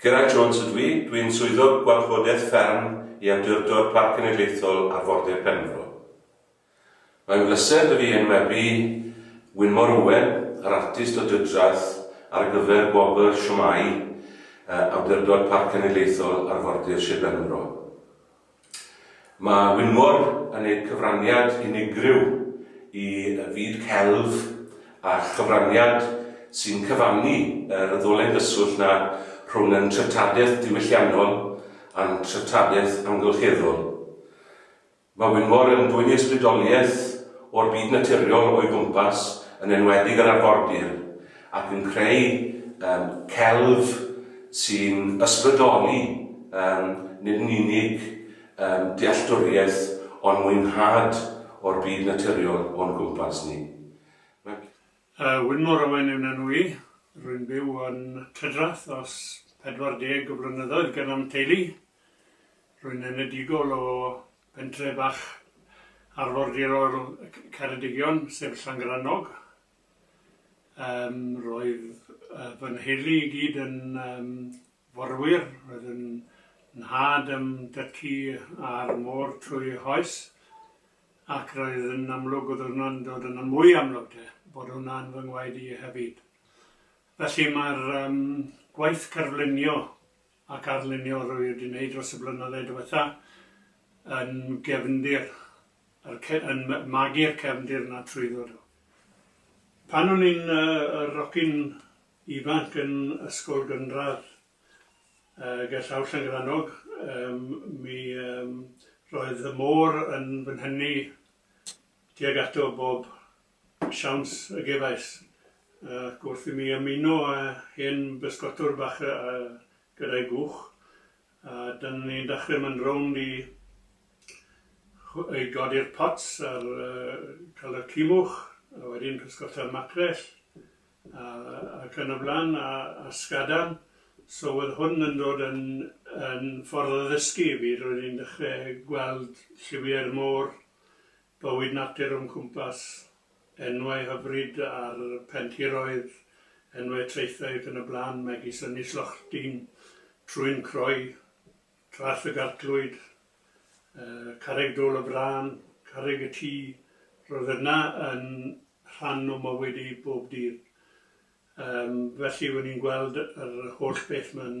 Gerard Jones ydw i, dw i'n Swyddog Gwarchodaeth Fferm i Awdurdod Parc Cenedlaethol Arfordir Penfro. Mae'n bleser 'da fi enwebu Wynmor Owen, yr artist o Dydraeth, ar gyfer gwobr Shwmae Awdurdod Parc Cenedlaethol Arfordir Sir Benfro. Mae Wynfor yn neud cyfraniad unigryw i fyd celf a chyfraniad sy'n cyfannu yr ddolen gyswllt 'na rhwng ein treftadaeth diwylliannol a'n treftadaeth amgylcheddol. Mae Wynfor yn dwyn ysbrydoliaeth o'r byd naturiol o'i gwmpas, yn enwedig yr arfordir, ac yn creu celf sy'n ysbrydoli nid yn unig dealltwriaeth ond mwynhad o'r byd naturiol o'n cwmpas ni. Mae. Wyn mor owen yw na nwy, rwy'n byw yn Tryddrath dros 40 o flynyddoedd gan am teulu. Rwy'n enedigol o bentre bach arfordirol Ceredigion, sef Llangrannog. Yym roedd yy fy nheulu i gyd yn yym forwyr, roedd yn nhad a'm dy'cu ar y môr trwy hoes ac roedd yn amlwg oedd hwnna'n dod yn mwy amlwg de bod hwnna yn fy ngwaed i hefyd. Felly mae'r yym gwaith cerflunio ac arlunio rwy' wedi neud dros y blynydde diwetha' yn gefndir yr ce- yn ma- magu'r cefndir 'na trwyddo do. Pan o'n i'n yy yy rocyn ifanc yn ysgol gynradd yy gerllaw Llangrannog yym mi yym roedd y môr yn fy nhyny tuag ato bob Siawns y gefais, ac wrth i mi ymuno â hen bysgotwr bach gyda'i gwch, a dyna ni'n dachre mynd rownd i i godi'r pots a'r cael y cumwch, a wedyn pysgota'r macrell a ac yn y blaen a a sgadan, so wedd hwn yn dod yn yn ffordd o ddysgu i fi, roedd hi'n dechre gweld lliwiau'r môr Bywyd natur o'n cwmpas, enwau hyfryd ar pentiroedd, enwau traethau ac yn y blaen megis Ynys Lochrdin, Trwyn Croe, Traeth y Garclwyd, Carreg Dôl y Frân, Carreg y Tŷ, roedd yna yn rhan o mywyd i bob dydd. Felly, wen i'n gweld yr holl beth 'ma'n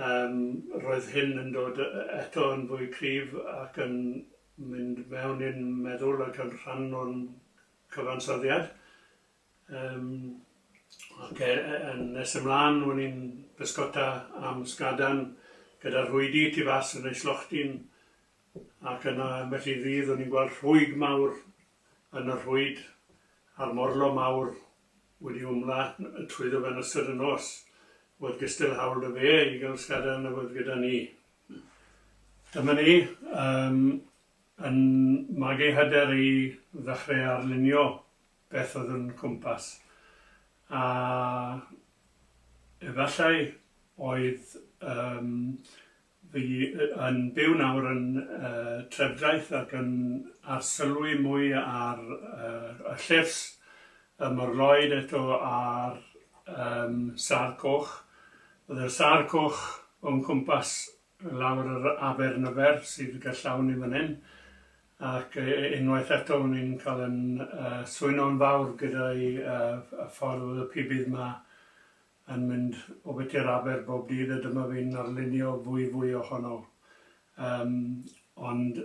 Yym, roedd hyn yn dod eto yn fwy cryf ac yn mynd mewn i'n meddwl ac yn rhan o'n cyfansoddiad. Yym, ac e- e- yn nes ymlân o'n i'n bysgota am sgadan gyda rhwydi tu fas yn ei slochdi'n ac yna ambell i ddydd o'n i'n gweld rhwyg mawr yn y rhwyd a'r morlo mawr wedi ymladd trwyddo fe yn ystod y nos, oedd gystal hawl 'da fe i gael sgada yn y wddf gyda ni. Dyma ni, um, yn mag ei hyder i ddechrau arlunio beth oedd yn cwmpas. A efallai oedd um, Fi yn byw nawr yn y trefdraeth ac yn arsylwi mwy ar yr y llyfs, y morlloyd eto a'r yym sâr coch. O'dd y sâr coch o'n cwmpas lawr yr aber Nyfer sydd gerllaw ni fan hyn ac yy unwaith eto o'n i'n ca'l yn yy swyno'n fawr gyda'i yy y ffordd o'dd y pibydd 'ma yn mynd o Betsi i'r Aber bob dydd a dyma fi'n arlunio fwy fwy ohono. Yym ond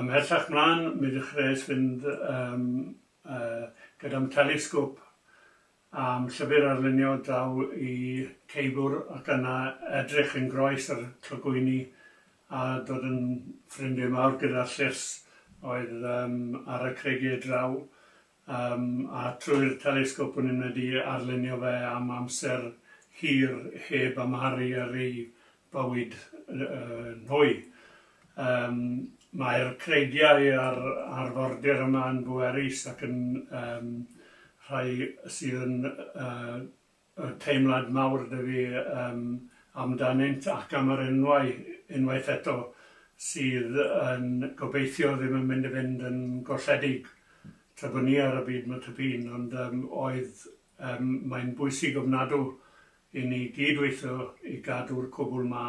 ymhellach mlan mi ddechreuais fynd yym yy gyda'm telesgop a'm llyfr arlunio draw i Ceibwr ac yna edrych yn groes ar clogwyni a dod yn ffrindie mawr gyda'r llys oedd yym ar y creigie draw Yym a trwy'r telesgop o'n i'n medru arlunio fe am amser hir heb amharu ar ei bywyd yn hwy. Yym mae'r creigiau a'r arfordir yma yn bwerus ac yn yym rhai sydd yn yy Mae teimlad mawr 'da fi amdanynt ac am yr enwau, unwaith eto, sydd yn gobeithio ddim yn mynd i fynd yn golledig tra bod ni ar y byd ma tŷ pîn, ond oedd mae'n bwysig ofnadw i ni gyd-weithio i gadw'r cwbl 'ma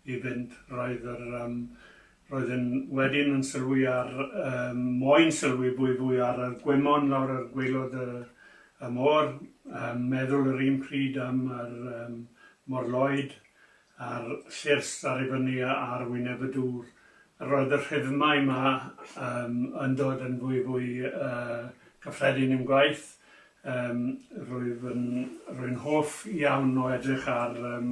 i fynd. Roedd yr Roeddwn wedyn yn sylwi ar, yym, moyn sylwi fwy fwy ar y gwymon lawr ar gwaelod y, y môr, yn meddwl yr un pryd am yr, yym, morloed, a'r llyrs ar ei fyny ar wyneb y dŵr. Roedd y rhythmau 'ma, yym, yn dod yn fwy fwy, yy, cyffredin i'm gwaith. Yym, rwyf yn, rwy'n hoff iawn o edrych ar, yym,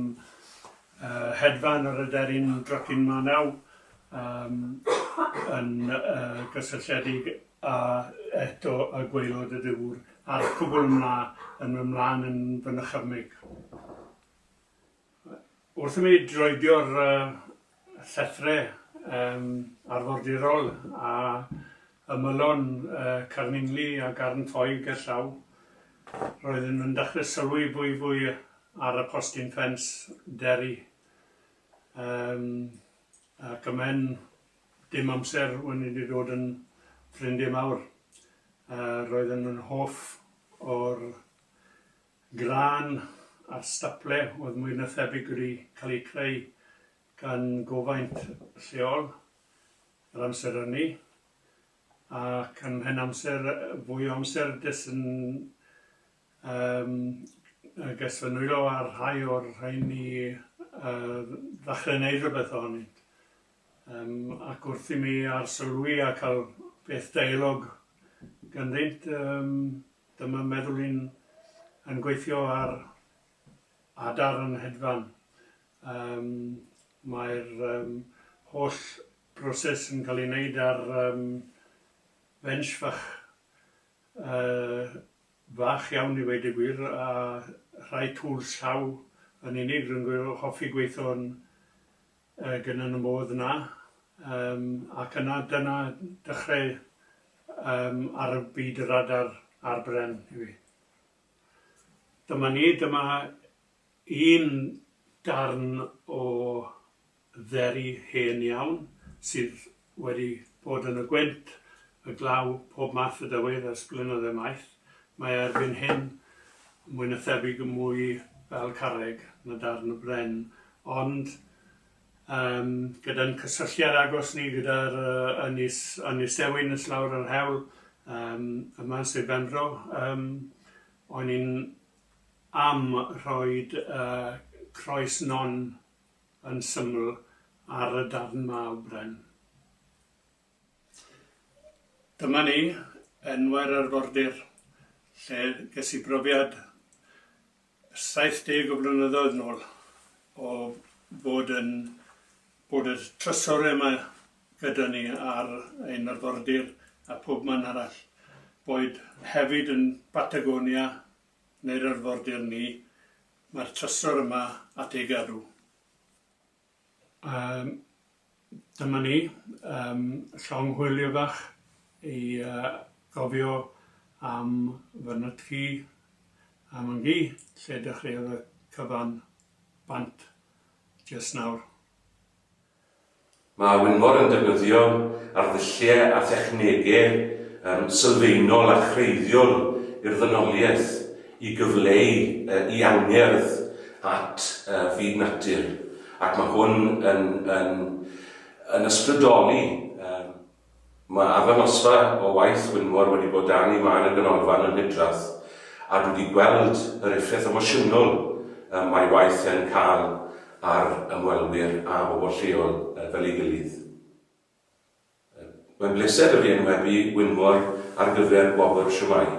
Yr hedfan yr aderyn drycin manaw yym yn yy gysylltiedig a eto y gwaelod y dŵr a'r cwbl yn mla yn myn mlan yn fy nychymyg. Wrth i mi droedio'r yy llethrau yym arfordirol a ymylon Carningli a Garn Ffoi gerllaw, roeddwn yn dechrau sylwi fwy fwy ar y postyn ffens Derry yym ac ym mhen dim amser wn i wedi dod yn ffrindie mawr. Roeddwn yn hoff o'r grân a'r staple oedd mwy na thebyg wedi cael eu creu gan gofaint lleol. yr amser ynni ac yn mhen amser fwy o amser jyst yn yym jyst fy nwylo ar rhai o'r rheini yym ddechre neud rhywbeth ohonynt yym ac wrth i mi arsylwi a ca'l peth deialog ganddynt yym dyma meddwl i'n yn gweithio ar adar yn hedfan Yym, mae'r yym holl broses yn cael ei wneud ar yym bench fach yy fach iawn i weud y gwir a rhai tŵls llaw yn unig, rwy'n gw- hoffi gweithio'n yy gyn yn y modd 'na yym ac yna dyna dechreu yym ar y byd radar ar bren i fi. Dyma ni, dyma Un darn o dderi hen iawn sydd wedi bod yn y gwynt, y glaw, pob math o dywydd ers blynydde maith. Mae e erbyn hyn mwy na thebyg yn mwy fel carreg na darn o bren. Ond yym gyda'n cysylltiad agos ni gyda'r ynys Ynys Ewin nes lawr yr hewl yym yma yn Sir Benfro yym o'n i'n am roi croes non yn syml ar y darn 'ma o bren. Dyma ni, enwau'r arfordir, lle ges i brofiad 70 o flynyddoedd nôl o fod yn bod y trysore 'ma gyda ni ar ein arfordir a phob man arall, boed hefyd yn Batagonia neu'r arfordir ni, mae'r trysor yma at ei gadw. Yym, dyma ni, yym, llong hwylio fach i gofio am fy nytgi a myn gi, lle dechreuodd y cyfan bant jyst nawr. Mae Wynfor yn defnyddio arddulliau a thechnegau sylfaenol a chreiddiol i'r ddynoliaeth i gyfleu ei angerdd at fyd natur ac mae hwn yn yn ysbrydoli Mae arddangosfa o waith Wynfor wedi bod dan ei man yn Ganolfan y Hydref a dwi wedi gweld yr effaith emosiynol y mae waith yn cael ar ymwelwyr a bobl lleol fel ei gilydd. Mae'n bleser 'da fi enwebu Wynfor ar gyfer gwobr Shwmae!